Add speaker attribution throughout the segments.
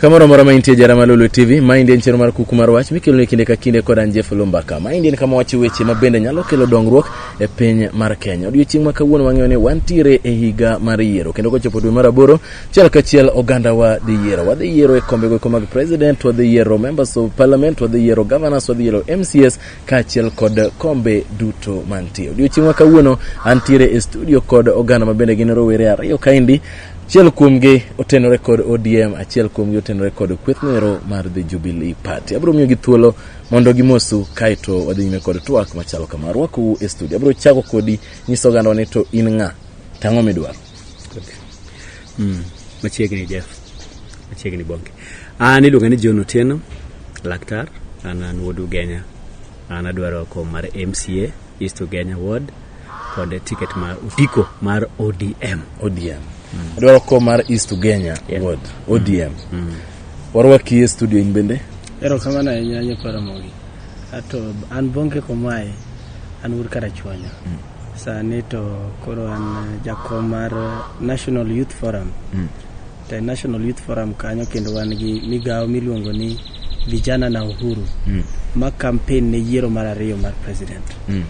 Speaker 1: Kamoro amora ma intie jara malolo TV, maendi en chenro mar kuku mar wach mikeloni kinde ka kinde kod an Jeff Lumbaka. Maendi en kama wacho weche ma bende nyalo kelo dongruok e piny mar Kenya. Odiochieng' ma kawuono wang'eyo ni wantiere e higa mar yiero kendo kochopo dwe mar aboro, chiel kachiel oganda wa dhi yiero. Wadhi yiero e kombe goeko mag president, wadhi yiero members of parliament, wadhi yiero governors, wadhi yiero MCS kaachiel kod kombe duto mantie. Odiochieng' ma kawuono antiere e studio kod oganda ma bende gin rowere ariyo kaendi Achiel kuomgi otenore kod ODM, achiel kuomgi otenore kod kweth noero mar The Jubilee Party. Abiro miyogi thuolo mondo gimosu kaeto wadhi nyime kod twak machalo kama. Arwakou e studio. Abiro chako kodi nyiso oganda ni to in ng'a? Tang'o midwaro. Mm,
Speaker 2: machiegni Jeff. Machiegni Bonke. An iluonga ni John Otieno, laktar. An an wuod Ugenya. An adwaro kom mar MCA. East Ugenya Ward kod ticket mar otiko mar ODM. ODM.
Speaker 1: Adwaro ko mar East Ugenya Yeah. Ward, ODM. Warwaki e studio in bende. erokamano ahinya
Speaker 3: nyakwa ramogi ato an bonge komae an wuod karachuonyo sani to koro an eh, jakom mar eh, national youth forum e National Youth Forum kanyo kendo wan gi migawo miluongo ni Vijana na Uhuru mm. ma campaign ne yiero mar ariyo mar president mm.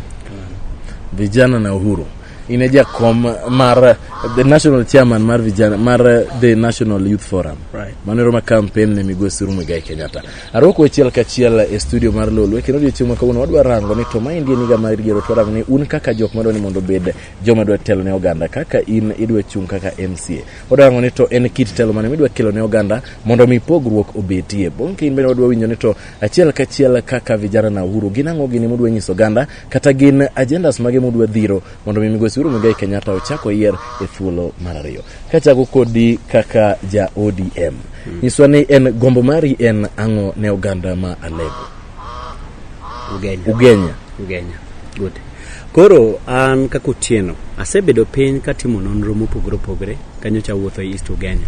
Speaker 1: Vijana na Uhuru in e jakom mar the national chairman mar vijana mar the national youth forum right. mano ero ma
Speaker 3: campaign ne
Speaker 1: migosi Suru Muigai Kenyatta arwako achiel kachiel e studio mar Lolwe kendo odiochieng' ma kawuono wadwa rango ni to maendi en higa mar yiero to warango ni un kaka jok madwa ni mondo obed joma dwa telo ne oganda kaka in idwa chung' kaka MCA Wadwa rango ni to en kit telo mane midwa kelo ne oganda mondo mi pogruok obetie. Bang' kiny bende wadwa winjo ni to achiel kachiel kaka vijana na Uhuru gin ang'o gini mudwa nyiso oganda kata gin agendas mage mudwa dhiro mondo mi migosi Uhuru Muigai Kenyatta ochak oyier e thuolo mar ariyo. Kachako kodi kaka ja ODM. Nyiswa ni en gombo mari en ang'o ne oganda ma Alego. Ugenya. Ugenya. Ugenya. Good.
Speaker 2: Koro an kaka Otieno, asebedo piny katimo nonro mopogore opogore kanyocha wuotho e East Ugenya.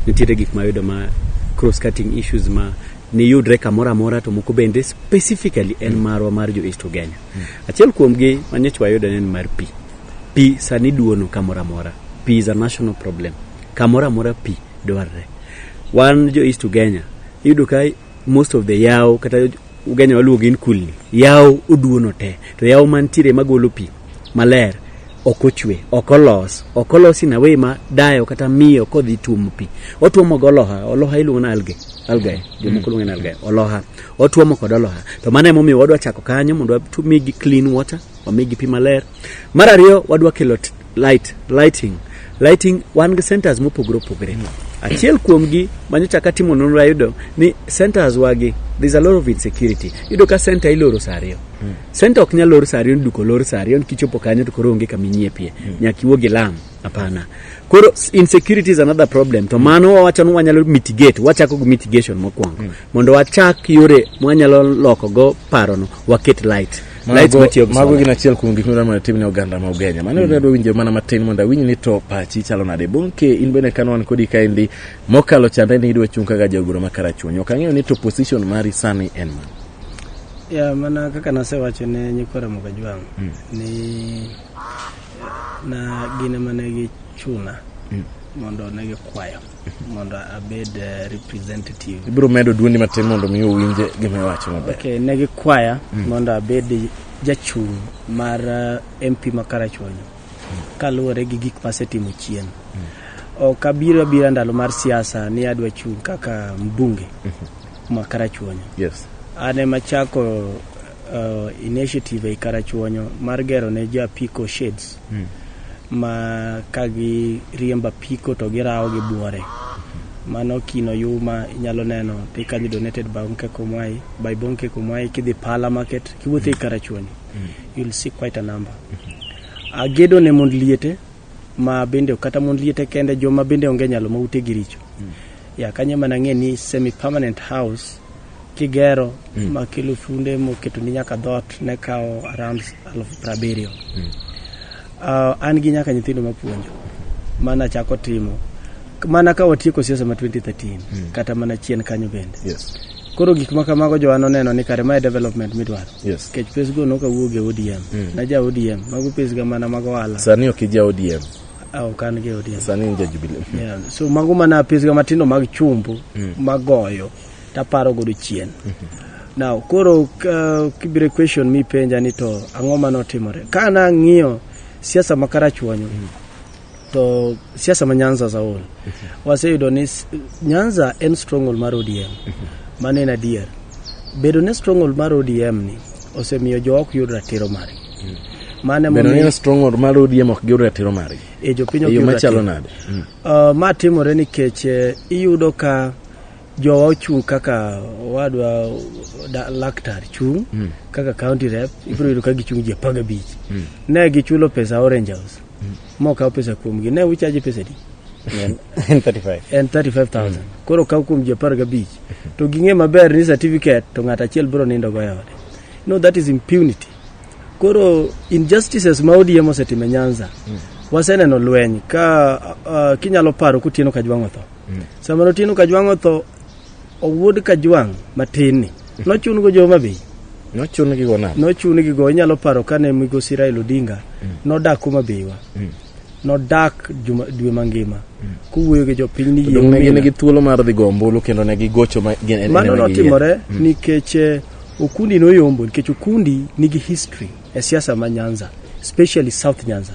Speaker 2: Nitiere gik mayudo ma cross cutting issues ma niyudre kamoro amora to moko bende specifically en mm. marwa mar jo East Ugenya. Mm. Achiel kuomgi ma nyocha wayudo en mar pi. Pi sani duono kamoro amora. Pi is a national problem. Kamoro amora pi dwarre. Wan jo East Ugenya iyudo ka most of the yawo kata ugenya waluongo in kulni yawo oduono te to yawo mantiere magolo pi maler ok ochwe ok olos ok olos in a way ma dayo kata miyo kodhi tuomo pi otuomo go oloha oloha iluongo na alge algae jomoko luongo ni algae oloha otuomo kod oloha to mano emomiyo wadwa chako kanyo mondo wamigi clean water wamigi pi maler mar ariyo wadwa kelo t- light lighting lighting wan gi centers mopogore opogore mm. achiel kuomgi manyocha katimo nonro ayudo ni centers wagi there's a lot of insecurity yudo ka center iloro saa ariyo mm. center ok nyal lor saa ariyo duko lor saa ariyo nikichopo kanyo to koro onge kaminyiepie mm. nyaka iwuog e lam hapana koro insecurity is another problem to mano wawacho ni wanyalo mitigate wachako gi mitigation mokwongo mm. mondo wachak yore mwanyalo lokogo parono waket light Light Mago- matiyo gi mago solar. gin
Speaker 1: achiel kuom gik midwaro mondo itim ne oganda ma ugenya mano mm. adwa winjo mana matin mondo awinj ni to pachi chalo nade bonke in bende kano wan kodi kaendi mokalo chande ni idwa chung' kaka jagoro ma karachuonyo ok ang'eyo ni to position mari sani en man ya
Speaker 3: mana kaka nasewacho ne nyikwa ramoga jwang Mm. ni na gin ema ne gichuna Mm. mondo ne gikwayo mondo abed eh, representative ibiro medo duondi
Speaker 1: matin mondo mi owinje gima iwacho maber okay, ne gikwaya
Speaker 3: mm. mondo abed jachung' mar uh, eh, mp ma karachuonyo mm. kaluwore gi gik masetimo chien mm. ok abiro abira ndalo mar siasa ni adwa chung' kaka mbunge mm -hmm. ma karachuonyo yes. an
Speaker 1: emachako
Speaker 3: uh, initiative ei Karachuonyo mar gero ne jo apiko shades mm. ma ka giriembo apiko to girawo gi buore mano kino yuma inyalo neno they can be donated by Bonke Komwai by Bonke Komwai kidhi Pala Market kiwuotho ei Karachuonyo mm. you'll see quite a number mm-hmm. agedo ne mond liete ma bende kata mond liete kende joma bende onge nyalo ma ute gi richo mm. ya kanyo mana ng'e ni semi permanent house kigero mm. ma kelo funde moketo ni nyaka dhot ne kawo around alufu prabiriyo mm. uh, an gi nyaka nyithindo mapuonjo mana chako timo mana ka watieko siasa ma 2013 mm. kata mana chien kanyo bende yes. koro gik
Speaker 1: ma kamago
Speaker 3: jowa noneno ni kare mae development midwaro yes. kech pesgo
Speaker 1: nokawuog
Speaker 3: e odm mm.
Speaker 1: na
Speaker 3: ja odm mago pesga mana mag
Speaker 1: ohala
Speaker 3: sani ok ija
Speaker 1: odm
Speaker 3: Ah, ok an gi odm sani in jajubili Yeah,
Speaker 1: so mago mana
Speaker 3: apisga matindo mag chumbu magoyo taparo godo chien now koro uh, kibire question mipenja ni to ang'o ma notimore ka nang'iyo siasa ma karachuonyo to siasa ma nyanza zaol waseyudo ni s- nyanza en stronghold mar odm mano en adier bedo ne stronghold mar odm ni osemiyo jo ok yud ratiro margi mm. mane momiyo ni stronghold mar ODM
Speaker 1: ok yud ratiro margi e jopiny e ok yud ratiro nade mm. uh, ma
Speaker 3: timore nikech eh, iyudo ka jowa ochung' kaka wadwa laktar chung' mm. kaka county rep ibiro yudo ka gichung' ji apar gabich mm. ne gichulo pesa orange house mm. mokaw pesa kuomgi ne uchaji pesa di
Speaker 2: en 35000
Speaker 3: koro kaw kuom ji apar gabich to ging'e maber ni certificate to ng'at achiel biro nindo go e ode no that is impunity koro injustices ma ODM osetimo e Nyanza mm. waseneno lweny ka uh, kinyalo paro kutieno kajwang' otho mm. sama notieno kajwang' otho owuod kajwang' matin ni mm. nochun go joma bei nochun gi go na nochun gi go inyalo paro kane migosi Raila Odinga mm. nodak kuma beiwa mm. nodak juma- dwe mangima kowuoyo gi jopiny ni yie Donge ne gin umina. gi thuolo mar
Speaker 1: dhi go ombulu kendo ne gigocho ma gin en- mano en- en- notimore
Speaker 3: Mm. nikech eh, okundi noyombo nikech okundi nigi history e siasa ma nyanza especially south nyanza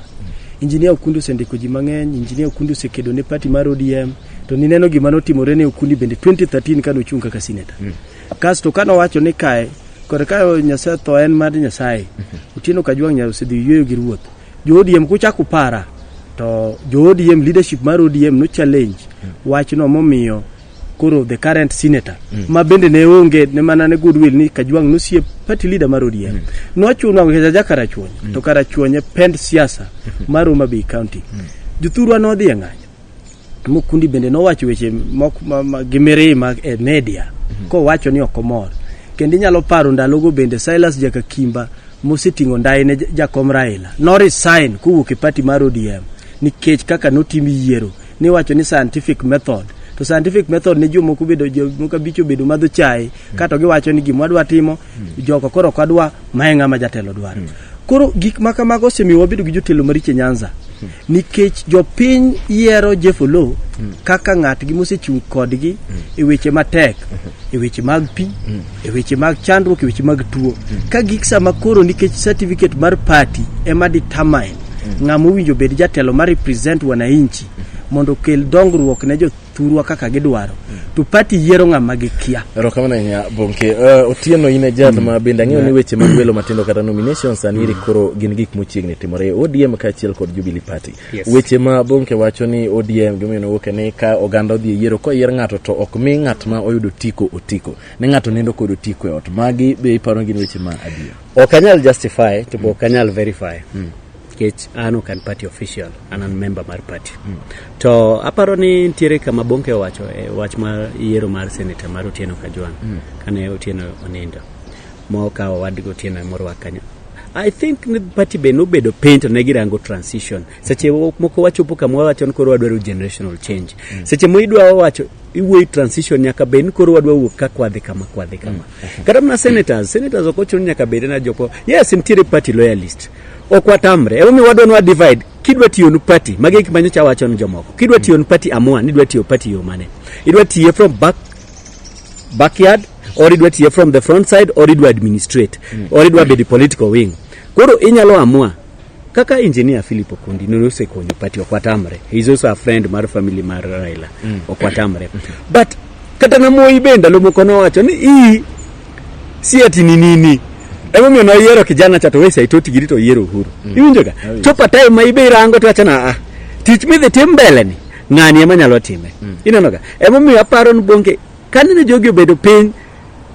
Speaker 3: injinia okundi osendiko ji mang'eny injinia okundi osekedo ne party mar odm to nineno gima notimore ne okundi bende 2013 kane ochung' kaka senator kasto kane owacho ni kae kod ka nyasaye tho en mar nyasaye otieno kajwang' nyasaye osedhi yueyo gi ruoth Jo ODM kuchako para to jo ODM leadership mar ODM no challenge mm. wachno momiyo koro the current senator mm. ma bende ne onge ne mana ne goodwill ni Kajwang nosie party leader mar ODM mm. nochuno ng'eja ja Karachuonyo mm. to Karachuonyo pend siasa mm. mar Homa Bay County mm. jothurwa nodhi e ng'anyo Mukundi bende nowacho weche mok- ma- ma- gi mirima e media kowacho ni ok omor kendo inyalo paro ndalogo bende Silas Jakakimba moseting'o ndai ne ja- jakom Raila no resign kowuok e party mar ODM nikech kaka notim yiero niwacho ni scientific method to scientific method ne jomoko bedo jomoko abich obedo madho chae kato giwacho ni gima wadwa timo jogo koro ok wadwa mae ng'ama jatelo dwaro koro gik ma kamago osemiyo wabedo gi jotelo maricho e Nyanza nikech jopiny yiero Jeff Oloo mm. kaka ng'atgi mosechung' kodgi mm. e weche matek mm-hmm. e weche mag pi mm. e weche mag chandruok e weche mag tuo mm. ka gik sama koro nikech certificate mar party ema determine mm. ng'ama owinjo bed jatelo ma represent wananchi mm. mondo okel dongruok ne jo thurwa kaka gidwaro to party yiero ng'ama gikia erokamano ahinya bonke
Speaker 1: uh, otieno in e jal mm. ma bende ang'eyo ni weche mag welo matindo kata nominations anieri mm. koro gin gik mochiegni timore odm kaachiel kod jubilee party yes. weche ma bonke wacho ni odm gimomiyo nowuoke ni ka oganda odhi e yiero koyier ng'ato to ok mi ng'at ma oyudo otiko otiko ne ng'ato nindo kod otiko e ot magi be iparo gin weche ma adier ok anyal justify
Speaker 2: to be ok anyal verify mm. nikech an ok an party official an an member mar party mm. to aparo ni nitiere kama bonke owacho e wach mar yiero mar senator mar otieno kajwang mm. kane otieno onindo mokawo wadgi otieno e morwak kanyo I think ni party be nobedo piny to ne girango transition. Seche moko wachopo kama wawacho ni koro wadwaro generational change. Mm. Seche mo idwa wawacho iwuoyi transition nyaka bed ni koro wadwa wuok ka kwadhi kama kwadhi kama. Mm. Kata mana senators, senators ok ochuno nyaka bed na joko. Yes, nitiere party loyalist. ok watamre emomiyo wadwa nwa divide kidwa tiyo nu party magi gik manyocha wacho ni jomoko kidwa tiyo nu party amua ni idwa tiyo party yo mane idwa tiye from back backyard or idwa tiye from the front side or idwa administrate or idwa bedi political wing koro inyalo amua kaka engineer philip okundi nosekonyo party ok watamre he is also a friend mar family mar raila ok watamre but kata na moi be ndalo moko nowacho ni ii si ati ni nini emomiyo noyiero kijana cha to we saitoti giri to oyiero uhuru iwinjoga chopa time ma ibe irango to achana a tich midhi tim mbele ni ng'ani ema nyalo time inenoga emomiyo aparo ni bonge kanene jogi obedo piny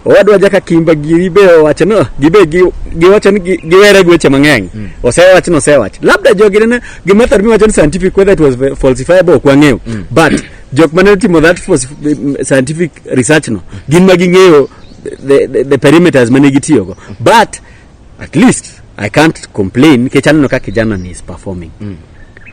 Speaker 2: owadwa jaka kimba giri be owacho no gibe gi- giwacho ni gi- giwere gi weche mang'eny osewach ni osewach labda jogi nene gima thar miwacho ni scientific whether it was falsifiable ok wang'eyo but jok mane otimo that for scientific research no gin ma ging'eyo the, the, the perimeters mane gitiyogo but at least i can't complain nikech aneno ka kijana ni is performing mm.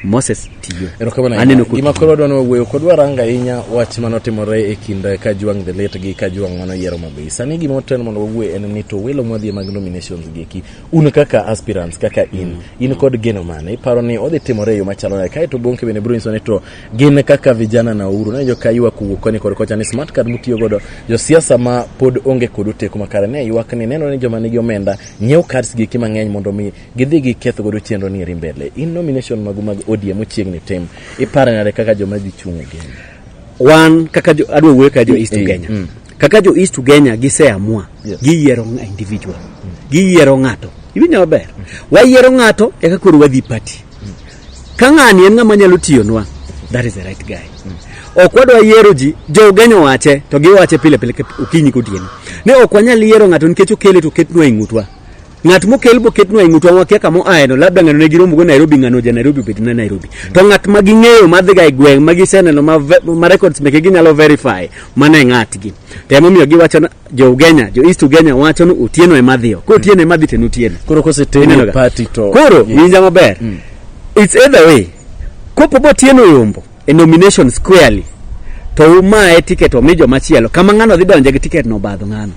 Speaker 2: moses tiyo erokamano aneno ahinya. ku gima
Speaker 1: koro wadwa ni wawuoyo kod waranga ahinya wach mane otimore e kind eh, kajwang the late gi kajwang mano yiero mabe sani gima otel mondo wawuoye en ni to welo mwadhi e mag nominations gi eki un kaka aspirants kaka in in kod geno mane iparo ni odhi timore e yo machalo nade kae to bonke bende biro nyiso ni to gin kaka vijana na uhuru ne joka ywak kowuok koni kod kocha ni smart card mutiyo godo josiasa ma pod onge kod oteku makare ne ywak ni nenore ni joma nigi omenda nyiew cards giki mang'eny mondo mi gidhi giketh godo chenro ni eri mbele in nomination magu mag odm mochiegni tim ipare nade kaka joma dhi chung' e game wan kaka
Speaker 2: jo- adwa wuoyo kaka jo east Eh, kenya mm. kaka jo east kenya giseamua Yes. giyiero ng'a- individual giyiero ng'ato iwinjo maber wayiero ng'ato eka koro wadhi party Ka ng'ani en ng'ama nyalo tiyonwa, that is the right guy. Ok wadwa yiero ji, jogenyo wache, to giwache pile pile okinyi kotieno. Ne ok wanyal yiero ng'ato nikech okele to ketnwa e ng'utwa. Ng'at mokel bo ketnwa e ng'utwa wakia kama oaeno, labda ng'ano ne giromogo Nairobi, ng'ano ja Nairobi obed na Nairobi. To ng'at ma ging'eyo madhiga e gweng' ma giseneno ma, ma records meke ginyalo verify, mano e ng'atgi. To emomiyo giwacho jo Ugenya, jo East Ugenya wacho ni Otieno ema dhiyo. Ko Otieno ema dhi to en Otieno. Koro koseteni Ineno e ga?
Speaker 1: party to Koro Yeah. winja maber.
Speaker 2: It's either way. Kopo bo Otieno yombo e nomination squarely to umaye ticket omi joma chielo. Kama ng'ano dhi donje gi ticket no badho ng'ano.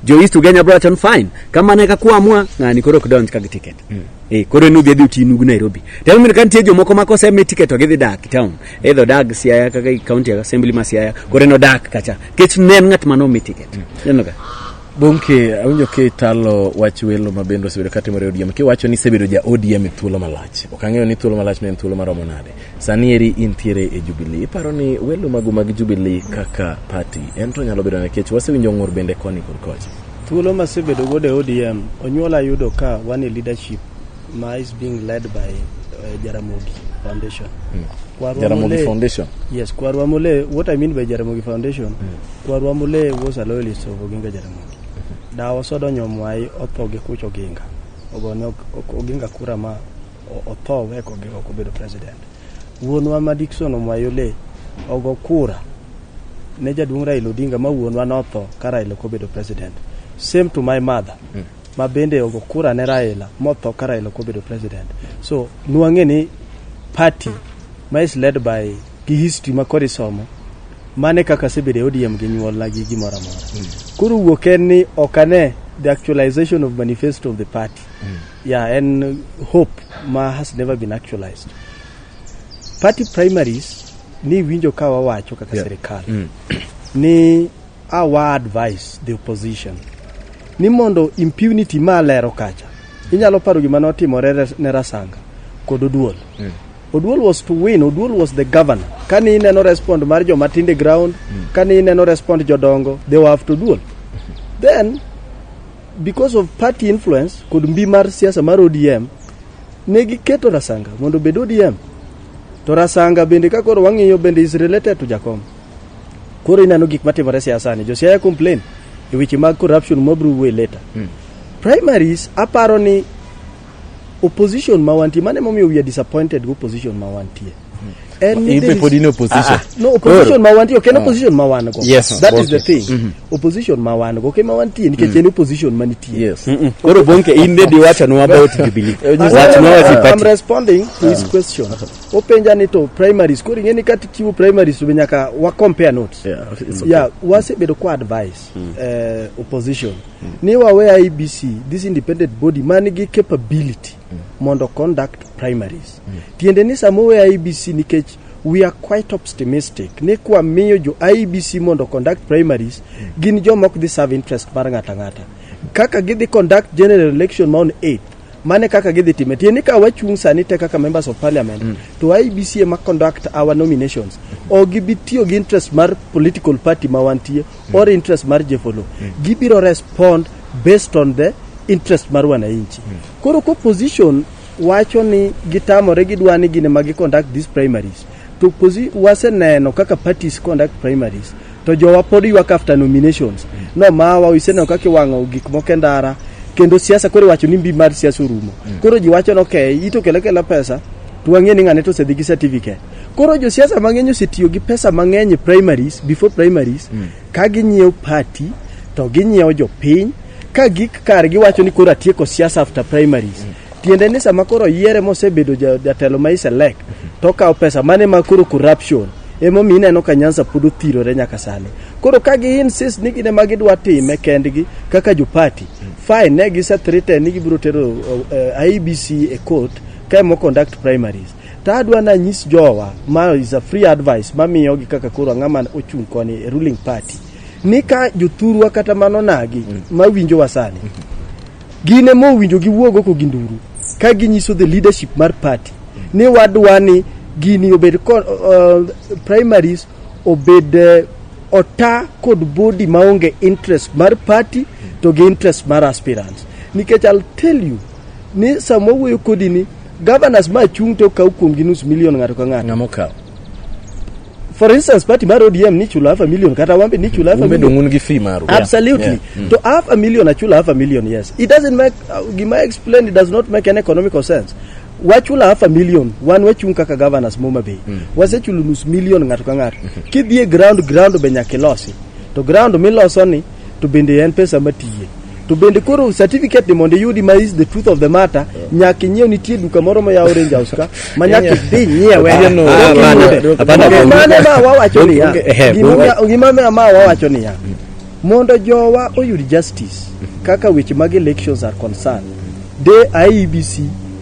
Speaker 2: Jo East Ugenya bro wacho ni fine. Kama ne ka kuamwa ng'ani koro ok donj ka gi ticket. Eh, koro en udhi adhi uti nugu Nairobi. To mimi kan tie jomoko ma kosemi ticket to gidhi dak town. Either dag Siaya kaka county assembly ma Siaya. Koro en odak kacha. kech ne en ng'at mane omi tiket ineno ka Bonke, awinjo
Speaker 1: ka italo wach welo ma bende osebedo ka timore e ODM. Kiwacho ni isebedo ja ODM e thuolo malach. Ok ang'eyo ni thuolo malach ne en thuolo maromo nade. Sani eri intiere e Jubilee. Iparo ni welo magu mag Jubilee kaka party en to nyalo bedo nikech wasewinjo ng'ur bende koni kod kocha. thuolo masebedo
Speaker 3: godo e ODM, onyuola yudo ka wan e leadership ma is being led by uh, Jaramogi Foundation. Mm. Kwarwa Jaramogi
Speaker 1: Mole, Foundation. Yes, Kwarwa Mole,
Speaker 3: what I mean by Jaramogi Foundation, mm. Kwarwa Mole was a loyalist of Oginga Jaramogi. Mm. Da wasodo nyomwai otho gi kucho Oginga. Ogone Oginga kura ma otho weko Oginga kubedo president. Wuonwa ma Dickson Omwayo le ogo kura ne jaduong' Raila Odinga ma wuonwa notho ka Raila kubedo president. Same to my mother. Mm. ma bende ogo kura ne Raila motho ka Raila ok obedo president. So nwang'e ni party ma is led by gi history ma kod isomo mane kaka asebedo e ODM gi nyuolna gi gimoro amora. Koro wuok en ni ok ane the actualization of manifesto of the party. Yeah, en hope ma has never been actualized. Party primaries ni winjo ka wawacho kaka Yeah. serikal Mm. ni a wa advice the opposition ni mondo impunity ma alero kacha inyalo paro gima notimore res- ne rasanga kod oduol Mm. oduol was to win oduol was the governor kane ineno respond mar joma tinde ground kane ineno respond jodongo they were after oduol then because of party influence kod mbi mar siasa mar odm ne giketo rasanga mondo obed odm to rasanga bende ka koro wang'iyo bende is related to jakom koro ineno gik matimore siasani josiaya complain e weche mag corruption mabro wuoye later mm. primaries aparo ni opposition ma wantie mane momiyo we are disappointed go opposition ma wantie hmm. in ah,
Speaker 1: opposition. Ah. No, opposition ma
Speaker 3: wantie ok en ah. opposition ma wan go. Yes, that is the thing.
Speaker 1: Mm -hmm.
Speaker 3: Opposition ma wan go, ok ma wantie nikech mm. en opposition ma nitie. Yes. Mm -mm. Koro
Speaker 1: bonke in
Speaker 2: dedi wacho no about Jubilee. Wacho no about I'm responding to
Speaker 3: his question. openja ni to primaries koro ing'e ni kati chiwo primaries to be nyaka wa compare notes Yeah, it's okay. yeah wasebedo kwa advice eh, opposition ni wawe IBC this independent body man gi capability mondo conduct primaries tiende ni sama owe IBC nikech we are quite optimistic ni kwa miyo jo IBC mondo conduct primaries gin joma ok dhi serve interest mar ng'ata ng'ata kaka gidhi conduct general election ma on 8 Mane kaka gidhi time. Tiende ka wachung' sani te kaka members of parliament mm. to IBC ema conduct our nominations. O gibi tiyo gi interest mar political party ma wantie mm. or interest mar jefolo. Mm. Gibiro respond based on the interest mar wananchi. Mm. Koro ko position wacho ni gitamore gidwa ni gine ma gi conduct these primaries. To waseneno kaka parties conduct primaries. to jowa pod ywak after nominations nomawa iseneno kaka iwang'o gik moko e ndara kendo siasa koro iwacho ni mbi mar siasa orumo koro ji wacho ni okay ito kele kela pesa to wang'e ni ng'ane to osedhi gi certificate koro josiasa mang'eny osetiyo gi pesa mang'eny e primaries before primaries ka ginyiewo party to ginyiewo jopiny ka gik kar giwacho ni koro atieko siasa after primaries tiende ni sama koro yiere mosebedo jatelo ma iselek to okawo pesa mane ma koro corruption emomiyo ineno ka nyansa pod othirore nyaka sani koro ka gi insist ni gine ma gidwa time kendgi kaka jopati fine ne gisethrite ni gibiro tero uh, ibc e court ka emo conduct primaries to adwa na nyis jowa ma is a free advice mamiyo gi kaka koro ang'ama ochung' koni e ruling party ni ka jothurwa kata mano nagi mawinjowa sani Gin ema owinjo giwuog oko gi nduru ka ginyiso the leadership mar party ni wadwa ni gini obed ko- uh, primaries obed eh, ota kod body maonge interest mar party to gi interest mar aspirants nikech I'll tell you ni sama wawuoyo kodi ni governors ma chung' to kaw kuomgi nus milion ng'ato ka ng'ato Ng'ama okawo. for instance party mar odm ni chulo half a million kata wambe ni chulo half a million un gi fee maru
Speaker 1: absolutely yeah. Yeah. Mm. to
Speaker 3: half a million achulo half a million yes it doesn't make uh, gima explain it does not make any economical sense wachula half a million wan wachung kaka governors moma bay mm. wasechulo nus million ng'ato ka ng'ato mm-hmm. kidhi e ground ground be nyaka ilosi to ground miloso ni to bende en pesa matiye to bende koro certificate ni mondo iyudi ma is the truth of the matter nyaka inyiew nitie duka moro ma yawo range house ka ma nyaka idhi nyiewe Ah, Otieno, ah, Otieno, bana, Otieno. bana, Onge bana. mane ma wawacho Onge- niya onge- ehe, gima onge. onya- gima ma- ma wawacho niya mondo jowa oyud justice kaka weche mag elections are concerned de IEBC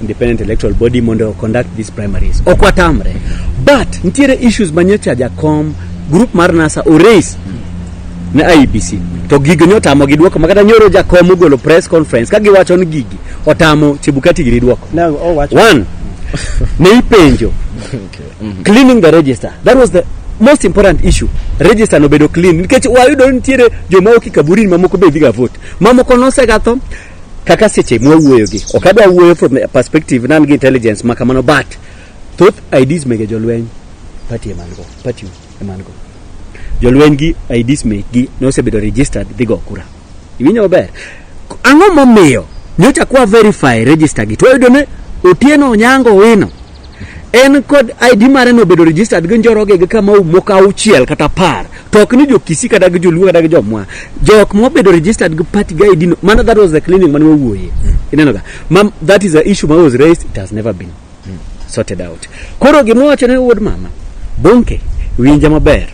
Speaker 2: independent electoral body mondo o conduct these primaries ok watamre but nitiere issues ma nyocha jakom group mar nasa oraise ne IEBC to gigo ne otamo gi duoko makata nyoro jakom ogolo press conference ka giwacho ni gigi otamo Chebukati giri duoko Ne owacho one ne ipenjo cleaning the register that was the most important issue register nobedo clean nikech wayudo ni nitiere joma oki kaburini mamoko be dhiga vote mamoko nosegatho kaka seche mwawuoyogi ok adwa wuoyo from the perspective nan gi intelligence ma kamano but thoth ids mege jolweny pati emango pati emango jolweny gi ids mekgi ne osebedo registered dhi go kura iwinjo maber K- ang'o momiyo nyocha kwa verify register gi twayudo ne otieno onyango wino en kod ID mare no bedo registered gi njoroge gi kama moko auchiel kata apar to ok ni jo Kisii kata gi joluo kata gi jomwa jok mobedo registered gi party gi ID no mana that was the clinic mane wawuoye ineno ga mam that is the issue that was raised it has never been sorted out koro gima wacho ne wuod mama bonke winja maber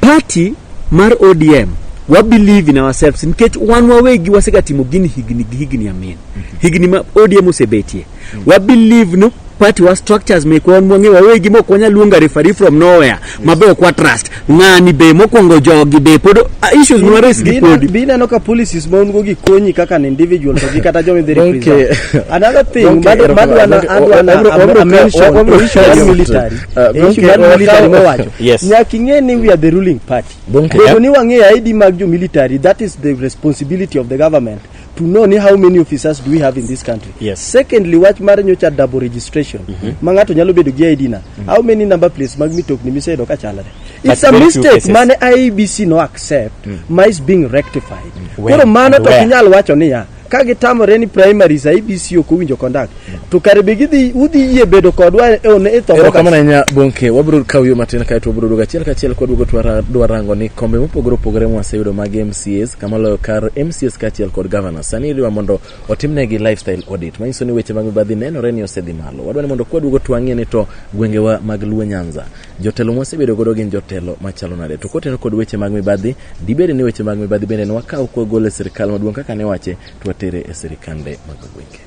Speaker 2: party mar ODM wa believe in ourselves nikech wan wawegi wasegatimo gini higni gi higni amin higni ma ODM osebetie wa believe ni party wa structures me kwan mwangi wa wegi mo kwanya luonga referee from nowhere mabe ok wa trust ng'ani be mokwongo jogi be pod ah, issues mwa raise gi podi Be ineno ka policies ma
Speaker 3: un go gi konyi kaka an individual to gi kata joma idhi Donke. represent. Another thing Donke, mad- ero- madwa na- donke, adwa na- wabro- am- wabro- am- mention wabro- the issue wabro- of military. Uh, The donke, issue of wabro- military mowacho. Yes. Nyaka ing'e ni we are the ruling party. Donke. Bedo ni wang'eyo ID mag jo military, that is the responsibility of the government. to know ni how many officers do we have in this country Yes. secondly wach mar nyocha double registration ma ng'ato nyalo bedo gi id na how many number plates mag mitokni miseyudo ka chalre But it's a very few mistake cases. mane IEBC no accept ma is being rectified When koro mano and to where? ok inyal wacho niya ka gitamore ni primaries IEBC ok owinjo conduct to kare be gidhi udhi yie bedo kodwa e one itho erokamano ahinya bonke
Speaker 1: wabiro kawo yo matin kae to wabiro duogo achiel kachiel kwaduogo twadwa rango ni kombe mopogore opogore mwaseyudo mag mcs kama loyo kar mcs kaachiel kod governor sani idwa mondo otimnegi lifestyle audit manyiso ni weche mag mibadhi nenore ni osedhi malo wadwa ni mondo kwaduogo twang'ie ni to gwengewa mag luo nyanza jotelo mwasebedo godo gin jotelo machalo nade to koteno kod weche mag mibadhi dibed ni weche mag mibadhi bende ne wakawo kwagole sirikal maduong' kaka ne wache twatere e sirikande mag gwenge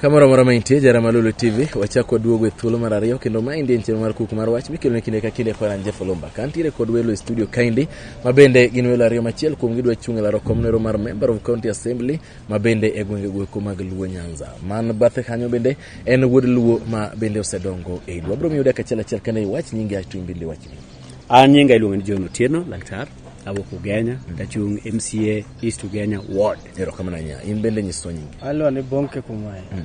Speaker 1: Kamoro amora ma intie, jara Malulu TV, wachako waduogo e thuolo mar ariyo kendo ma indie chenro mar kuku mar wach mikelo ne kinde ka kinde kod an Jeff Olumba. Ka antiere kod welo e studio kaendi ma bende gin welo ariyo machiel kuom gidwa chung' e laro kom nero mar member of county assembly ma bende e gwenge gweko mag Luo Nyanza. Man bathe kanyo bende en wuod Luo ma bende osedongo e Luo. Abro miyo dak achiel achiel kane iwach nyingi ato in bende iwach nyingi. An nyinga iluongo
Speaker 2: ni John Otieno Laktar, awuok Ugenya, tachung' MCA East Ugenya Ward. Erokamananya, in bende
Speaker 1: nyiswa nyingi. Alwa ni Bonke
Speaker 3: Kumwae. Mm.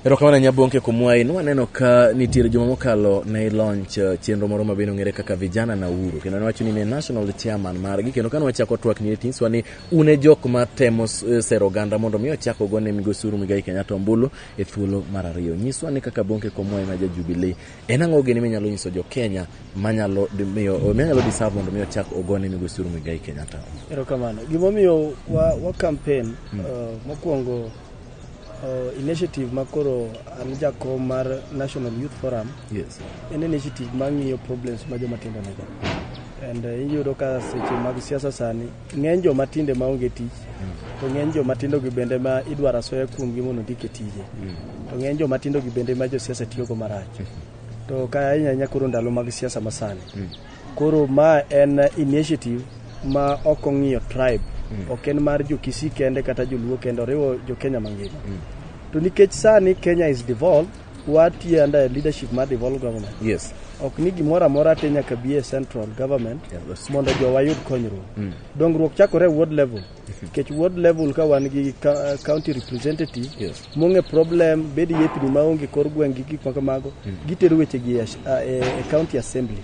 Speaker 3: Erokamana
Speaker 1: Nyabonke Kumwai, nwaneno ka nitiere juma mokalo ne ilonch eh, chenro moro ma bende ong'ere kaka vijana na uru kendo niwacho ni ne national chairman margi kendo ka nwachako twak ni tinyiswa ni un e jok ma temo eh, sero oganda mondo mi ochako go ne migosi Uhuru Muigai Kenyatta ombulu e thuolo mar ariyo. Nyiswa ni kaka Bonke Kumwai ma ja Jubilee En ang'o gini minyalo nyiso jo Kenya manyalo miyo manyalo deserve mondo mi ochak ogone migosi Uhuru Muigai Kenyatta? Erokamano.
Speaker 3: Gimomiyo wa, wa campaign hmm. uh, mokwongo uh, initiative ma koro an jakom mar National Youth Forum yes. en
Speaker 1: initiative
Speaker 3: mang'iyo problems ma joma tindo nigo and uh, iyudo ka seche mag siasa sani Ng'eny joma tinde ma onge tich, to ng'eny joma tindo gi bende ma idwaro asoya kuomgi mondo ondik e tije. To ng'eny joma tindo gi bende ma josiasa tiyogo marach. To ka ahinya ahinya koro ndalo mag siasa masani. Koro ma en initiative ma ok ong'iyo tribe. Ok en mar jo Kisii kende kata joluo kende, oriwo jo Kenya mangima. To nikech sani Kenya is devolved, Watiyo under a leadership mar devolved government. Yes. Ok ni
Speaker 1: gimoro amora
Speaker 3: te nyaka bi e central government Yeah, that's- mondo jowa yud konyruok. Dongruok chakore e ward level. Nikech ward level ka wan gi ka- county representative Yes. mong'e problem bed yepni maonge kor gweng' gi gik makamago gitero wechegi e ash- a- e e county assembly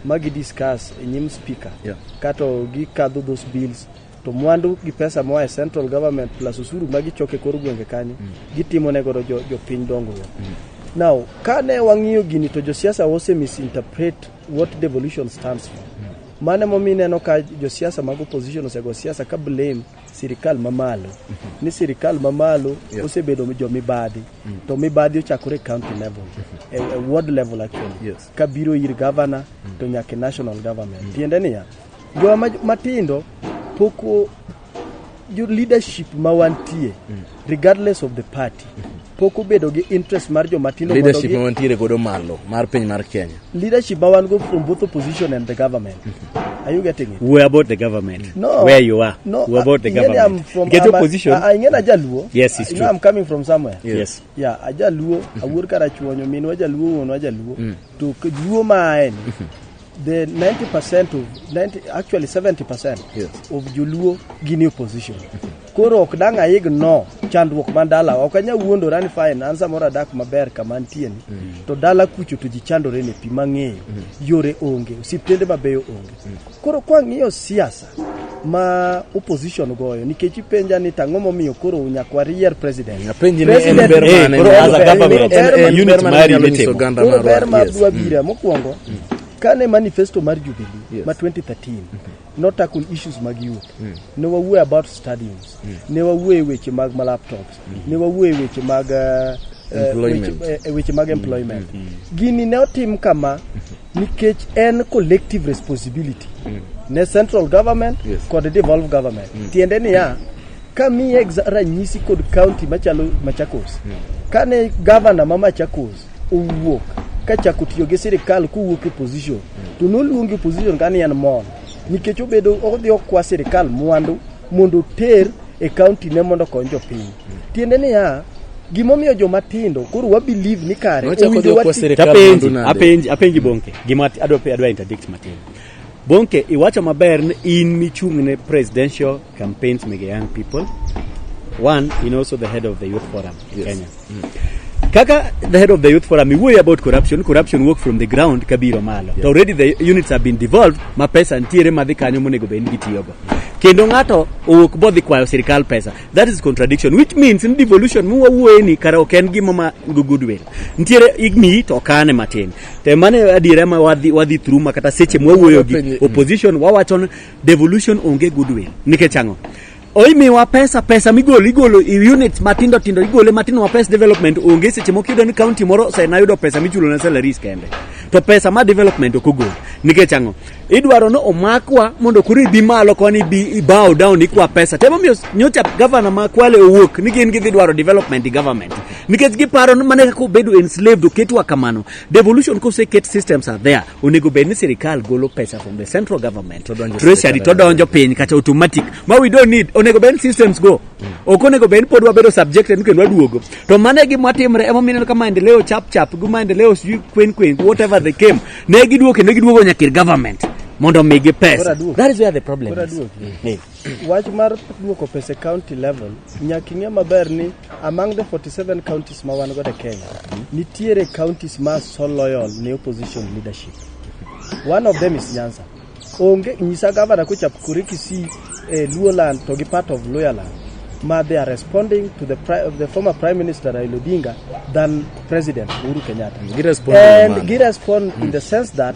Speaker 3: ma gi discuss e nyim speaker Yeah. kato gikadho those bills to mwandu gi pesa moa e central government plus usuru ma gichoko e kor gwenge kanyo mm. gitimo ne godo jopiny jo dongruok mm. now ka ne wang'iyo gini to josiasa ose misinterpret what devolution stands for mm. mane momi ineno ka josiasa mag opposition osego siasa ka blame sirikal mamalo mm-hmm. ni sirikal mamalo yeah. osebedo jomibadhi mm. to mibadhi ochakore county level mm-hmm. a, a ward level actually yes. kabiro ir governor mm. to nyaka national government mm. tiende niya Joma ma- matindo pok o- jo- leadership ma wantie regardless of the party pok obedo gi interest mar joma tindo mondo leadership gi- ma wantiere godo
Speaker 1: malo mar piny mar kenya leadership ma wan go
Speaker 3: from both opposition and the government are you getting it We're about the government.
Speaker 2: No. Where you are. no
Speaker 3: We're
Speaker 2: about the ingeni I'm
Speaker 3: government.
Speaker 2: from Get I'm a- opposition.
Speaker 3: I- I- ingeni
Speaker 2: ajaluo
Speaker 3: Yes, it's you know true. I'm coming
Speaker 2: from somewhere
Speaker 3: Yes. yeah
Speaker 2: ajaluo
Speaker 3: awuor karachuonyo minwa jaluo wuonwa jaluo to k- luo ma aeni the 90% of 90, actually 70% Yes. of joluo gin e opposition koro ok dang' aigno chandruok man dala ok anya wuondora ni fine an samoro adak maber kama antieni to dala kucho to ji chandore ne pi mang'eyo yore onge osiptende mabeyo onge koro kwang'iyo siasa ma opposition goyo nikech ipenja ni tang'o momiyo koro nyaka warier president Napenji ni en ber
Speaker 1: mane koro as a government,
Speaker 2: en- en unit ber mane mari nyalo nyiso mitimo. oganda Koro marwa, ber ma yes. dwa
Speaker 3: bira mokwongo kane manifesto mar jubilee ma 2013 notackle issues mag youth ne wawuoyo about stadiums ne wawuoyo e weche mag ma laptops ne wawuoye weche mag eh, eh, Employment. weche- eh, weche mag employment gini ne otim kama nikech en collective responsibility ne central government Yes. kod devolve government tiende niya kami exa- ranyisi kod county machalo machakos kane gavana ma machakos owuok kachako tiyo gi sirikal kowuok e position to noluongi position kani en mon nikech obedo odhi okwa sirikal mwandu mondo oter e kaunti ne mondo okony jopiny. Tiende niya, gimomiyo joma tindo koro wa believe ni kare Nochako owinjo dwoko wati- sirikal
Speaker 1: Apenji, mwandu nade? apenji,
Speaker 2: apenji Bonke. Gima ati- adwa pe- adwa interdict matin. Bonke, iwacho maber ni in michung' ne presidential campaigns mege young people. One, in also the head of the youth forum in Yes. Kenya. Kaka the head of the youth forum, we worry about corruption. Corruption work from the ground kabiro malo. To already the units have been devolved, ma pesa ntiere madhi kanyo monego bed ni gitiyogo. Kendo ng'ato owuok bodhi kwayo sirkal pesa. That is contradiction, which means in devolution mu wawuoye ni kara ok en gima ma go goodwill. Ntiere igni to kane matin. Te mane adiera ma wadhi wadhi through ma kata seche mwawuoyo gi opposition wawachon devolution onge goodwill. Nikech ang'o? Oimiwa pesa pesa migolo igolo i units matindo tindo igole matindo ma pes development onge seche moko iyudo ni county moro osena yudo pesa michulo na salaries kende to pesa ma development ok ogol nikech ang'o idwaro ni omakwa mondo koro ibi malo koni ibi ibow down ikwa pesa temo miyo nyocha gavana ma kwale owuok ni gin gidhi dwaro development government nikech giparo ni mana kaka obedo enslaved oketwa kamano devolution koseket systems are there onego bed ni sirikal golo pesa from the central government treasury to donjo piny kata automatic ma we don't need onego bed systems go ok onego bed pod wabedo subjected ni kendo waduogo to mano e gima timre ema mineno ka maendeleo chap chap gi maendeleo sijui kwen kwen whatever they came ne giduogo kendo giduogo nyakir government mondo omigi pesa that is where the problem is Wach mar
Speaker 3: duoko pesa e county level, nyaka ing'e maber ni among the 47 counties ma wan godo e Kenya, nitiere counties ma so loyal ne opposition leadership. One of them is Nyanza. Onge nyisa gavana kochap kure Kisii, eh, Luoland to gi part of Luyaland ma they are responding to the, pri the former prime minister Raila Odinga than president Uhuru Kenyatta. Girespond and girespond in the sense that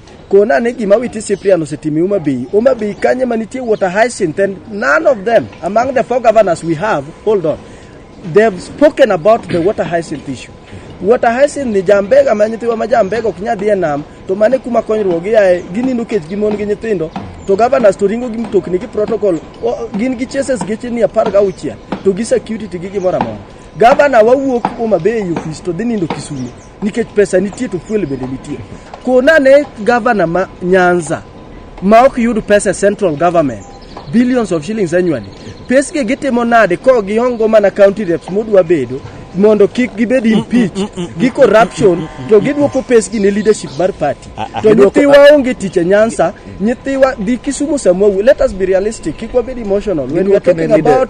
Speaker 3: Kona ni gima witi Cyprian osetimi Homa Bay. Homa Bay kanye manitie water hyacinth and none of them among the four governors we have, hold on. They've spoken about the water hyacinth issue. Water hyacinth ni jambega ma nyithiwa ma jambega ok nyadhi e nam to mane kuma konyruok giaye ginindo kech gi mon gi nyithindo to governors to ringo gi mtokni gi protocol o, gin gi chases geche ni apar ga auchiel to gi security gi gimoro amora. Governor wawuok Homa Bay e office to dhi nindo Kisumo. nikech pesa nitie to fuel bende nitie. Kona ne gavana ma Nyanza ma ok yud pesa e central government billions of shillings annually. Pesge gitimo nade ko giongo mana county reps modwa bedo mondo kik gibed impeached gi corruption to gidwoko pesgi ne leadership mar party to nyithiwa onge tich e nyansa nyithiwa dhi kisumu samua let us be realistic kik wabed emotional when we are Gidwoko ne talking leader- about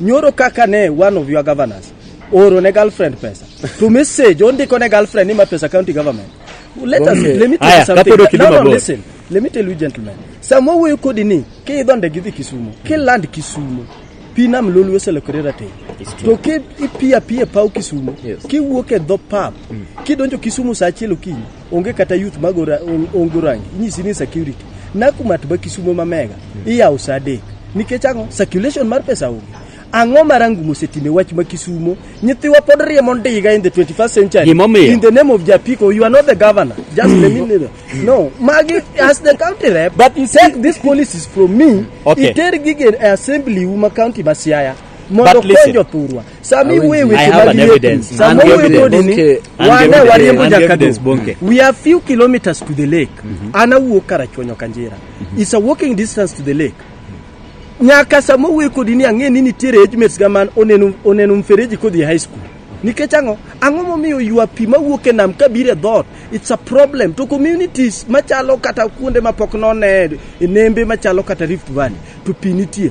Speaker 3: Nyoro kaka ne one of your governors oro ne girlfriend pesa to message ondiko ne girlfriend ni ma pesa county government let us Okay. let me tell Aya, you something kapod ok no, idhi no, mabor. listen let me tell you gentlemen sama wuoyo kodi ni ki idho ndege idhi kisumo ki land kisumo pi nam lolwe oselokore rateng to ki ipiyo apiyo e paw kisumo Yes. kiwuok e dho pap kidonjo kisumo sa achiel okinyi onge kata youth magora ongo rangi inyisi ni security nakumat ba kisumo ma mega iyawo sa adek nikech ang'o circulation mar pesa onge ang'o marangu mosetime wach ma kisumo nyithiwa pod riemo ndiga in the 21st century Gimomiyo. in the name of japiko you are not the governor just the minister no magi as the county rep But you see- take these policies from me Okay. iter gige e assembly uma county ma siaya mondo But listen. konjo thurwa sami Awinji. wuoye I weche have mag an yepi evidence.
Speaker 2: sama An gi wuoye evidence. kodini Bonke. An gi wane evidence. wariembo
Speaker 3: An gi jakado evidence, Bonke. we are few kilometers to the lake an awuok karachuonyo kanjira is a walking distance to the lake nyaka sama wuoye kodi ni ang'e ni nitiere age mates ga man oneno oneno mfereji kodhi e high school nikech ang'o ang'o momiyo ywa pi mawuok e nam kabiro e dhoot it's a problem to communities machalo kata kuonde mapok none e nembe machalo kata rift valley to pi nitie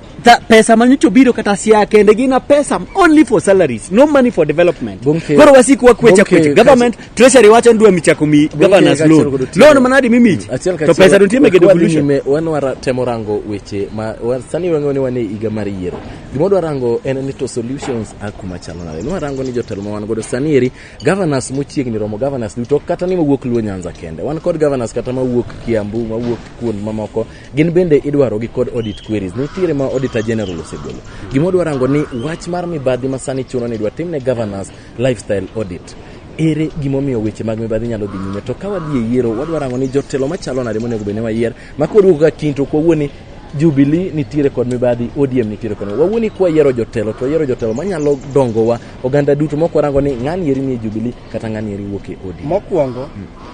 Speaker 2: Ta, pesa ma nyocha obiro kata siaya kende gin a pesa only for salaries no money for development Bunke- koro wasik wakwecha Bunke- kwecha government treasury wacho ni dwa michako mi governors kaachiel loan kod otieno. loan manadi mimich Achiel to pesa dontie mege Kwa dhi devolution nyime, wan wara temo rango
Speaker 1: weche ma wa- sani wang'eyo ni wan e higa mar yiero gima wadwa rango en ni to solutions a kuma chalo nade nwarango ni jotelo ma wan godo sani eri governors mochiegni romo governors duto ok kata ni mawuok luo nyanza kende wan kod governors kata mawuok kiambu mawuok kuond mamoko Gin bende idwarogi kod audit queries. Nitiere ma Auditor General osegolo. Gima odwa rango ni wach mar mibadhi ma sani chuno ni dwa timne governance lifestyle audit. Ere gimomiyo weche mag mibadhi nyalo dhi nyime? To ka wadhi e yiero, wadwa rango ni jotelo machalo nade monego bed ni wayier? Ma koduogo ka kiny to ok wawuo ni Jubilee nitiere kod mibadhi, ODM nitiere kod mibadhi. Wawuo ni kwayiero jotelo to wayiero jotelo manyalo dongowa oganda duto ma ok warango ni ng'ani eri nie Jubilee kata ng'ani eri wuok e ODM. Mokwongo,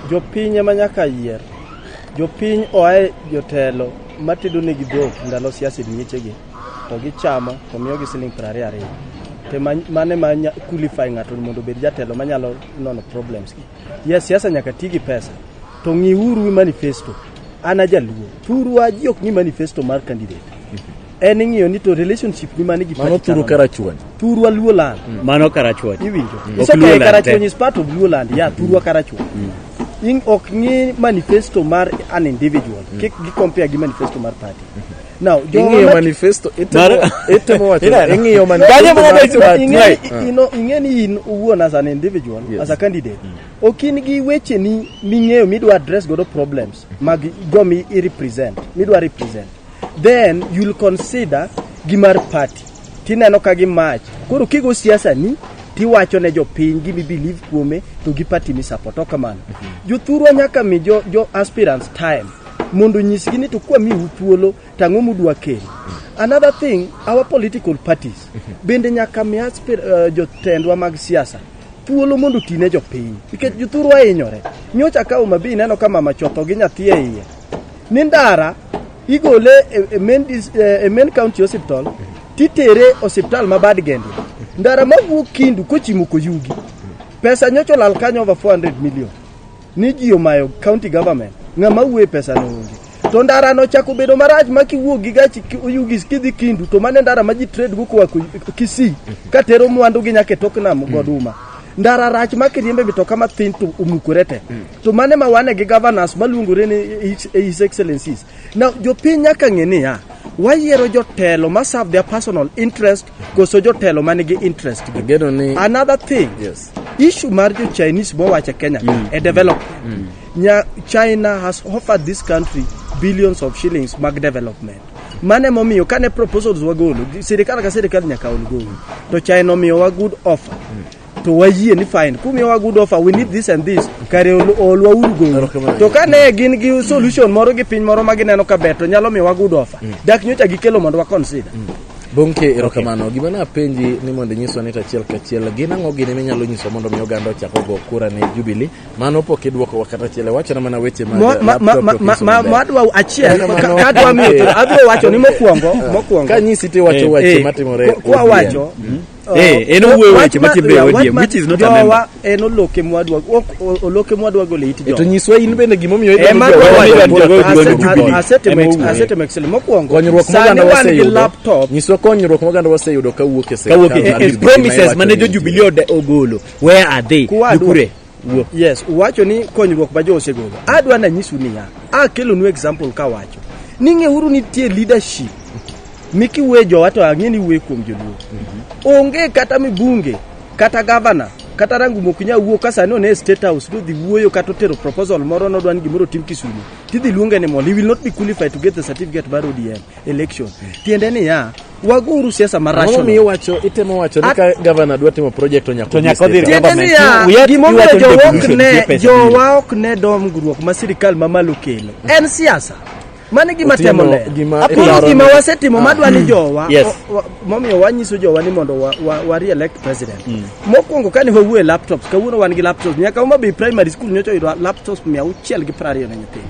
Speaker 3: jopiny ema nyaka yier. Jopiny oae jotelo matedo negi dhok ndalo siasa e miechegi to gichamo to miyogi siling' piero ariyo ariyo. To ma- mane ma nya- qualify ng'ato mondo obed jatelo manyalo nono problems gi. Yes, siasa nyaka ti gi pesa. To ng'iuru manifesto. An ajaluo. Thurwa ji ok ng'i manifesto mar candidate. en ing'iyo ni to relationship ni mane gi Mano party thuru chalo karachuonyo. nade.
Speaker 1: thurwa luo land
Speaker 3: Mano karachuonyo.
Speaker 2: iwinjo Mm. It's Ok okay, Luo land
Speaker 3: karachuonyo te. is part of luo land yeah thurwa karachuonyo in ok ng'i manifesto mar an individual kik gi compare gi manifesto mar party now jowa Ing'iyo mat- manifesto,
Speaker 1: itemo- itemo wacho- Ineno? ing'iyo manifesto Kanyo mana mar dwach wat. party. Ing'e- Right. i- ino- ing'e ni
Speaker 3: in uwuon as an individual Yes. as a candidate ok in gi wecheni ming'eyo midwa address godo problems mag go mi i represent midwa represent then you'll consider gi mar party tineno ka gi mach koro kigo siasa ni tiwacho ne jopiny gima ibelieve kuome to gi party misupport ok kamano jothurwa nyaka mi jo, jo aspirants time mondo nyisgi ni to kwamiu thuolo to ang'o mudwa kelo another thing our political parties bende nyaka mi aspir, uh, jotendwa mag siasa thuolo mondo ti ne jopiny nikech jothurwa hinyore nyocha ka Homa Bay ineno ka mama chotho gi nyathi e iye Ni ndara igole e, e main, dis- e, e main county hospital titere osiptal ma bad gende ndara mawuok kindu kochimo koyugi pesa nyocha olal kanyo over 400 million ni ji omayo county government ng'ama wuoye pesa no onge to ndara no chako bedo marach ma kiwuok gi gachi ki- oyugi kidhi kindu to mane ndara ma ji trade go koa Ku- kisii katero mwandu gi nyaka e tok nam goduma ndara rach ma kiriembe mitoka mathin to omukore te to mane ma wane gi governors maluongore ni his, his excellencies now jopiny nyaka ng'e niya wayiero jotelo ma serve their personal interest koso jotelo ma nigi interest gi Ageno ni another thing yes. issue
Speaker 1: mar jo
Speaker 3: chinese mowacho kenya mm. e development mm. Nya, china has offered this country billions of shillings mag development mane momiyo kane proposals wagolo sirikal ka sirikal nyaka ol golo to china omiyowa good offer mm. to wayie ni fine kumiyowa good offer we need this and this kare ol- olwa uru gouru to ka ne gin gi solution moro gi piny moro ma gineno ka ber to nyalo miyowa good offer dak nyocha gikelo mondo wa consider Bonke
Speaker 1: erokamano. Gima napenji ni mondo inyiswa ni to achiel kachiel gin ang'o gini minyalo nyiswa mondo mi oganda ochak ogo kura ne Jubilee. Mano pok idwokowa kata achiel. Wachona mana weche ma Mo- ma- ma- ma- ma- ma- ma
Speaker 3: adwa achiel ka- ka adwa miyo to adwa wacho ni mokwongo mokwongo Ka nyisi tiwacho
Speaker 1: Eh, wache eh, matimore kwa- kwa Odhiambo. wacho
Speaker 3: Eh, en
Speaker 2: owuoyo weche ma timbe ODM, which is not a member. En oloke mwadwa,
Speaker 3: oloke mwadwa gole it jowa. E to nyiswa in bende gima
Speaker 1: omiyo idwa jowa.
Speaker 3: Asetemo Excel mokwongo. Konyruok moganda
Speaker 1: waseyudo. Nyiswa konyruok moganda waseyudo kawuok e sirkal. Kawuok e promises
Speaker 2: mane jo Jubilee ogolo. Where are they? Kure. Wuo. Yes,
Speaker 3: uwacho ni konyruok ma jo osegolo. Adwa na nyisu niya, akelonu example kawacho ni ng'euru nitie leadership mikiwe jowa to ang'e ni wuoye kuom joluo. Onge kata mibunge kata gavana kata rangu mok nya wuo ka sani one e state house nodhi wuoyo kata otero proposal moro nodwa ni gimoro otim Kisumu tidhi luonge ni mol he will not be qualified to get the certificate mar ODM election. Tiende niya waguru siasa Ang'o marach momiyo iwacho itemo
Speaker 1: wacho ni ka gavana dwa timo project to nyaka To nyaka odhi odhi state. Tiende niya,
Speaker 3: We are- gimomiyo iwacho ni jowa ok devolution, ne- pesa jowa ok ne dongruok ma sirikal mamalo kelo en siasa mano gima Otieno, temo le gima apolo idwaro gima ni- wasetimo madwa ni jowa Yes. o- wa- momiyo wanyiso jowa ni mondo wa- wa- wa re-elect president mokwongo kane wawuo e laptops kawuono wan gi laptops nyaka Homa Bay primary school nyocha oyudo laptops mia auchiel gi piero ariyo ne nyithindo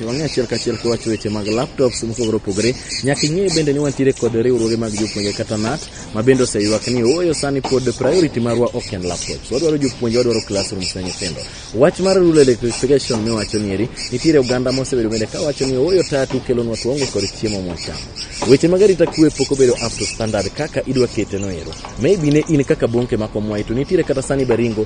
Speaker 1: Wang'e achiel kachiel kiwacho weche mag laptops mopogore opogore. Nyaka ing'e bende ni wantiere kod riwruoge mag jopuonje kata NAT ma bende oseywak ni ooyo sani pod priority marwa ok en laptops. Wadwaro jopuonje, wadwaro classrooms ne nyithindo. Wach mar rural electrification miwacho nieri, nitiere oganda mosebedo bende ka wacho ni ooyo tatu kelonwa tuongo kod chiemo mwachamo. Weche mag arita kwe pok obedo up to standard kaka idwa kete no ero. Maybe ne in kaka Bonke ma Komwayi to nitiere kata sani Baringo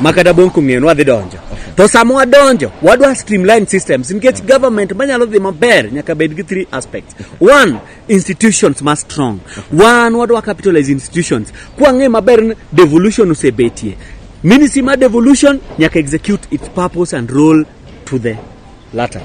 Speaker 2: ma kata bong' kong'eyo ni wadhi donjo to sama wadonjo wadwa streamline systems nikech government manyalo dhi maber nyaka bed gi three aspects one institutions ma strong one wadwa capitalize institutions kwang'e maber ni devolution osebetie ministry mar devolution nyaka execute its purpose and role to the latter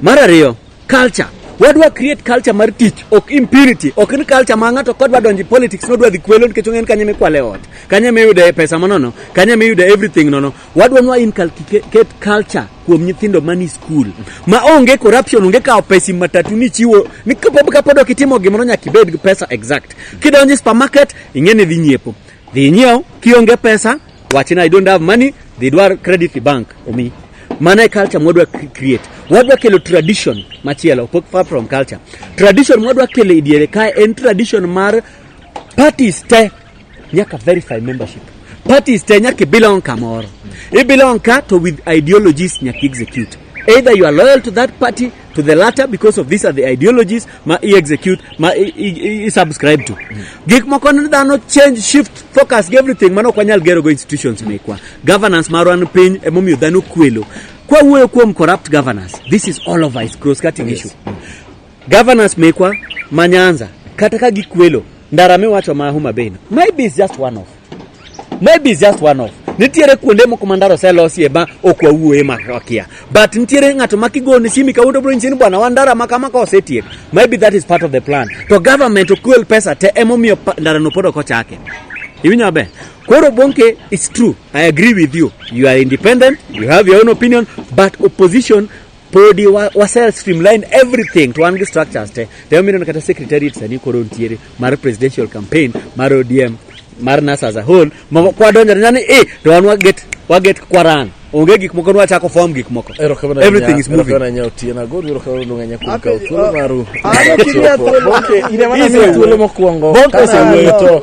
Speaker 2: mar ariyo culture wadwa create culture mar tich ok impunity ok ni culture ma ng'ato kodwa donjo e politics nodwa dhi kwelo nikech ong'en kanye mikwale e ot kanye miyude pesa manono kanye miyude everything nono wadwa nwa inculcate culture kuom nyithindo mani school ma onge corruption onge kawo pesi matatu ni chiwo ni kapod ok itimo gimoro nyaka ibed gi pesa exact kidonjo e supermarket ing'e ni dhi nyiepo dhi nyiewo kionge pesa Wachina I don't have money, they dwar credit the bank omi. Mano e culture mwadwa cre- create. Wadwa kelo tradition machielo fo- far from culture. Tradition mwadwa kelo e diere kae en tradition mar parties te nyaka verify membership. Parties te nyaka i belong kamoro. I belong ka to with ideologies nyaka i execute. Either you are loyal to that party to the latter because of these are the ideologies ma i execute ma i, i, i, i subscribe to gik moko ni dhano change shift focus gi everything mano ok wanyal gero go institutions mekwa governance marwa ni piny emomiyo dhano kwelo kwa wuoyo kuom corrupt governance this is all of us cross cutting issue governance mekwa ma nyanza kata ka gikwelo ndara miwacho ma homa bay no maybe is just one off maybe it's just one off nitiere kuonde moko ma ndara oselosie ma ok wawuoye ma wakia but nitiere ng'ato ma kigone simi kawuono bro nyisini bwana wan ndara ma kama ka osetiek maybe that is part of the plan to government okwel pesa te emomiyo pa- ndarano pod ok ochake iwinjo maber koro bonke it's true i agree with you you are independent you have your own opinion but opposition podi wa, wa self streamline everything to wan gi structures te to ema ineno kata secretariat sani koro nitiere mar presidential campaign mar odm mar nas as a whole ma kwadonjore nani e to wan waget waget kwaran onge gik moko nwachako form gik moko Erokamano everything is nya- moving erokamano nya Otieno Agoro,
Speaker 1: erokamano Lunga nya kuom kawo thuolo maru. Bonke, in ema
Speaker 3: namiyo
Speaker 1: thuolo mokwongo. Bonke osewuoyo to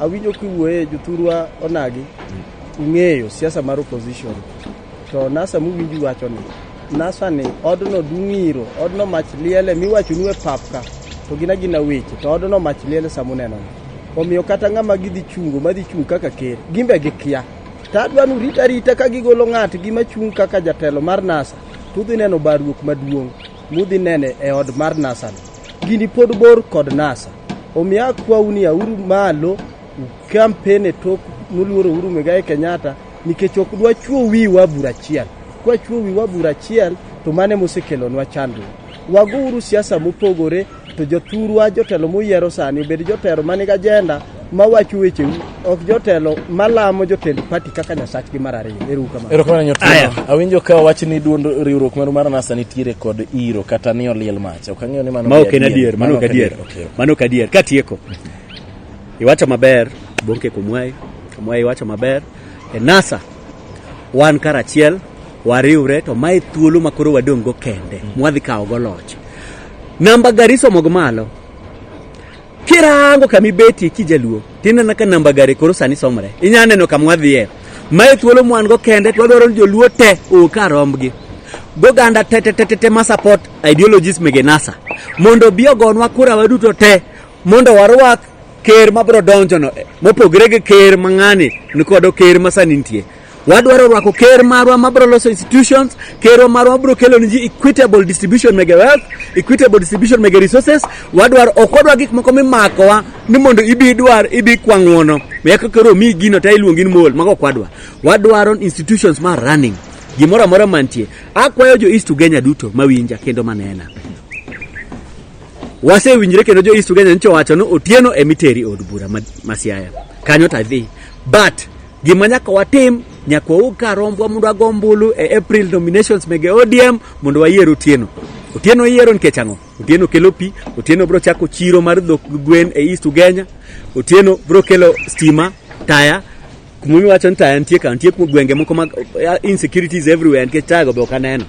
Speaker 3: Awinjo kiwuoye jothurwa onagi ung'eyo siasa mar opposition to nasa muwinji wacho ni nasa ni odno dung'iro odno mach liele miwachonu e pap ka to gina gina weche to odno mach liele samuneno omiyo kata ng'ama gidhi chungo madhi chung' kaka ker gimbe gikia to adwa nu rita rita ka gigolo ng'atgi machung' kaka jatelo mar nasa to udhi neno barruok maduong' mudhi nene e od mar nasano gini pod bor kod nasa omiyo akwau ni auru malo ukampen e tok muluoro uru migae kenyatta nikech ok dwa chuo wiwa bura achiel kwachuo wiwa bura achiel to mane mosekelonwa chandruok wago uru siasa mopogore To jothurwa jotelo muyiero sani obed jotelo ma nigi ajenda ma wacho wecheu ok jotelo ma lamo jotend pati kaka nyasachgi mar ariyo. Ero uru kamano. Erokamano Nyotelo. Aya.
Speaker 1: Awinjo ka wach ni duond riwruok maru mar NASA nitiere kod iro kata ni oliel mach. Ok ang'eyo ni mano Ma be ok en adier, mano ok adier. Okay. Mano
Speaker 2: ok adier. Katieko. Iwacho maber, Bonke Kumwayi. Kumwayi iwacho maber. E NASA wan karachiel wariwre to mae thuolo ma koro wadong' go kende mwadhi kawo go loch namba gari somo go malo kirango kama ibetie kijaluo tineno ka namba gari koro sani somre inyalo neno kama wadhiye mae thuolo mwan go kende to wadwaro ni joluo te oka rombgi goganda te te te te te ma support ideologies mege nasa mondo obi ogonwa kura waduto te mondo warwak ker mabiro donjono eh, mopogre gi ker mang'ani nikodo ker masani nitie Wadwaro rwako ker marwa ma bro loso institutions, kerwa marwa ma bro kelo ni ji equitable distribution mege wealth, equitable distribution mege resources. Wadwaro ok wadwa gik moko mimakowa ni mondo ibi idwar ibi kwang'wono. Miya ka kero mi gino ta iluongi ni mol, mago ok wadwa. Wadwaro institutions ma running. Gimoro amora mantie. Akwayo jo East Ugenya duto mawinja kendo manena. Wasewinjre kendo jo East Ugenya nyicho wacho ni Otieno emiteri od bura ma, ma Siaya. Kanyo ta dhi. But Gima nyaka watim nyaka waug kar rombwa mondo wago ombulu e April nominations mege ODM mondo wayier Otieno. Otieno iyiero nikech ang'o? Otieno kelo pi, Otieno biro chako chiro mar dhok gwen e East Ugenya, Otieno biro kelo stima, taya, kuma iwacho ni taya nitie ka, nitie kuma gwenge moko mag eh, insecurities everywhere nikech taya go be ok aneno.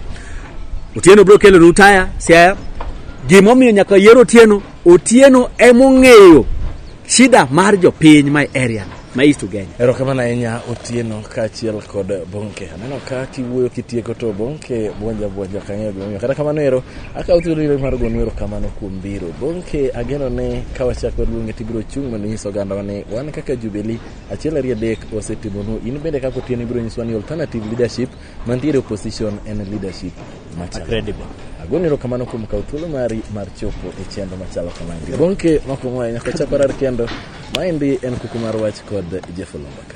Speaker 2: Otieno biro kelo nu taya, siaya. Gimomiyo nyaka yier Otieno, Otieno emong'eyo Shida mar jopiny my area no ma East Ugenya. Erokamano ahinya
Speaker 1: Otieno kaachiel kod Bonke. Aneno ka kiwuoyo kitieko to Bonke buonja buonja ok ang'eyo gimomiyo. Kata kamano ero akawo thuolo iro mar gonu erokamano kuom biro. Bonke ageno ni ka wachako luonge tibiro chung' mondo inyis ogandawa ni wan kaka Jubilee achiel ariyo adek osetimonu. In bende kaka Otieno ibiro nyiswa ni alternative leadership Mantiere opposition en leadership machalo. Credible.
Speaker 2: Agoni erokamano
Speaker 1: kuom kawo thuolo mari mar chopo e chenro machalo kamagi. Bonke makwongo ahinya ka chako rar kendo maendi en kuku mar wach kod Jeff Olombaka.